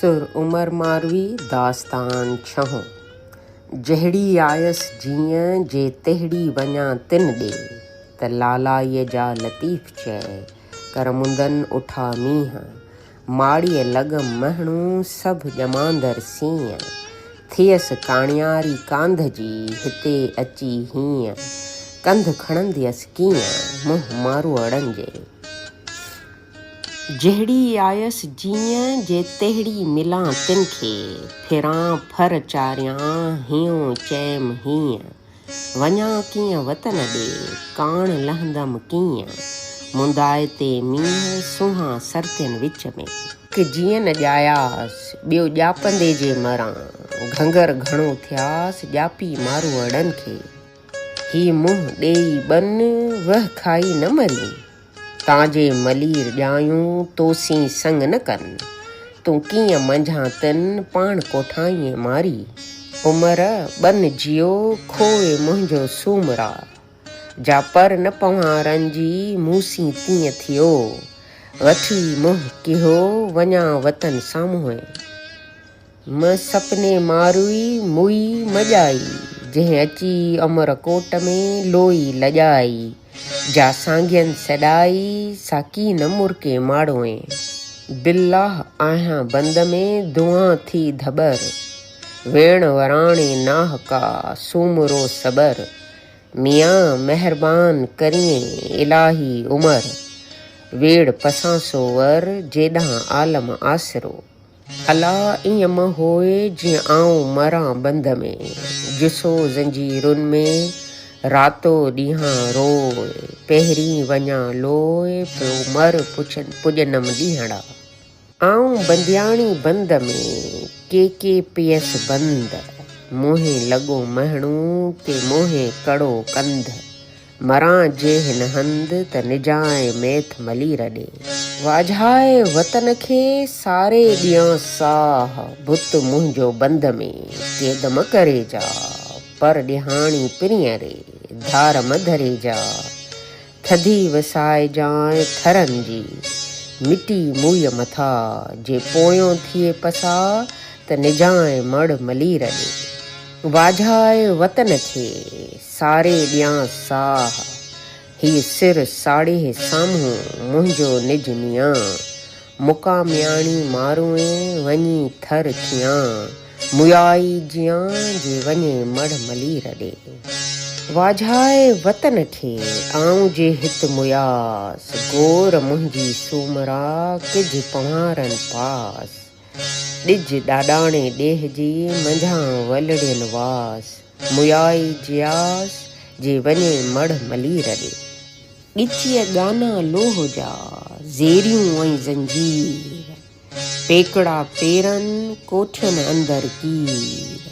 سر عمر ماروي داستان ڇهون جهڙي آيس جيئن جي تهڙي وڃان تن ڏي ته لالائيء جا لطيف چئي ڪر مندن اٺا مينهن ماڙيء لڳ مهڻو سڀ ڄماندر سينهن ٿئيس ڪاڻياري ڪانڌ جي هتي اچي هينئن ڪنڌ کڻنديس ڪيئن منهن ماروئڙن جي جهڙي آيس جيئن جي تهڙي ملان تن کي، ڦران ڦر چاريان هيون چيم هيئن، وڃان ڪيئن وطن ڏي، ڪاڻ لهندم ڪيئن، مندائي تي مينهن، سونهان سرتين وچ ۾. هڪ جيئن نه ڄاياس، ٻيو ڄاپندي جي مران، گهنگر گهڻو ٿياس، ڄاپي ماروئڙن کي، هي منهن ڏيئي ٻن، وهه کائي نه مرين، تان جي ملير ڄايون تو سين سنگ نه ڪن. تون ڪيئن منجهان تن پاڻ ڪوٺائينء ماري. عمر ٻن جيو کوء منهنجو سومرا. جا پر نه پوهان رنجي مون سين تيئن ٿيو. وٺي منهن ڪهيو وڃان وطن سامهونء. م سپني ماروئي موئي مڄائي، جنهن اچي امر ڪوٽ ۾ لوئي لڄائي، جا سانگين سڏائي، سا ڪي نه مرڪي ماڙوئي، بالله آهيان بند ۾ دونهان ٿي ڌٻر، ويڻ وراڻي ناه ڪا سومرو سٻر، ميان مهربان ڪريين الاهي عمر، ويڙ پسان سو ور، جيڏانهن عالم آسرو، الا ايئن مه هوء جيئن آئون مران بند ۾، جسو زنجيرن ۾، راتو ڏينهان روء، پهرين وڃان لوء، پيو مر پڄنم ڏينهڙا. آئون بندياڻي بند ۾، ڪي ڪي پيس بند، موهين لڳو مهڻو، ڪي موهين ڪڙو ڪنڌ. مران جي هن هنڌ ته نجانء ميٿ ملي رڏي. واجهائي وطن کي ساري ڏيان ساهه. بت منهنجو بند ۾ قيد م ڪري جا. پر ڏيهاڻي پرينء ري ڌار م ڌري جا. ٿڌي وسائجانء ٿرن جي مٽي موئي مٿا. جي پويون ٿئي پسا ته نجانء مڙ ملي رڏي. واجهائي وطن کي. ساري ڏيان ساهه، هي سر ساڙيه سامهون منهنجو نج نيان، مڪا مياڻي ماروئين وڃي ٿر ٿيان، ميائي جيان جي وڃي مڙهه ملير ڏي، واجهائي وطن کي آئون جي هت مياس، گور منهنجي سومرا ڪج پنهارن پاس. ڏج ڏاڏاڻي ڏيهه جي، منجهان ولڙين واس. ميائي جياس، جي وڃي مڙهه ملير ڏي. ڳچيء ڳانا لوهه جا، زيريون ۽ زنجير. پيڪڙا پيرن، ڪوٺين اندر ڪير.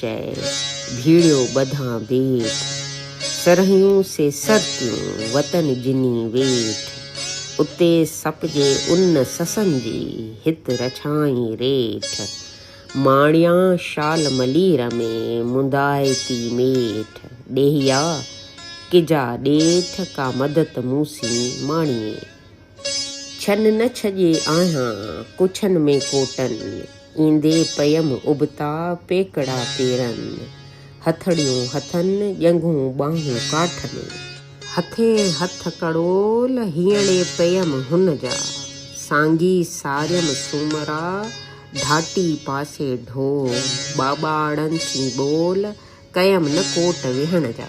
چئي ڀيڙيو ٻڌان بيت، سرهيون سي سر تيون، وطن جني ويٺ. اتي سپجي ان سسن جي، هت رڇائين ريٺ. ماڻيان شال ملير ۾، منڌائتي ميٺ. ڏيهيا! ڪجا ڏيٺ، ڪا مدت مون سين ماڻيئي. ڇن نه ڇڄي آهيان ڪڇن ۾ ڪوٽن، ايندي پيم ابتا پيڪڙا پيرن، هٿڙيون هٿن، ڄنگهون ٻانهون ڪاٺ ۾. هٿي هٿ ڪڙول هينئڙي پيم هن جا، سانگي ساريم سومرا ڍاٽي پاسي ڍول، ٻاٻاڙن ٿي ٻول ڪيم نه ڪوٽ ويهڻ جا.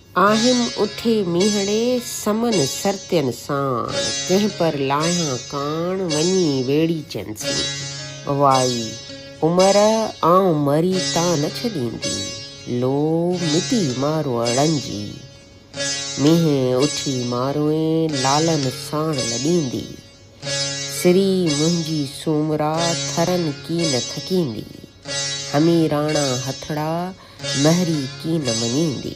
آهيم اٿي مينهڙي سمن سرتين ساڻ، ڪنهن پر لاهيان ڪاڻ، وڃي ويڙيچن سين. وائي! عمر آئون مري تان نه ڇڏيندي، لو مٽي ماروئڙن جي. مينهن اٿي ماروئين لالن ساڻ لڏيندي. سري منهنجي سومرا ٿرن ڪين ٿڪيندي، هميراڻا هٿڙا مهري ڪين مڃيندي.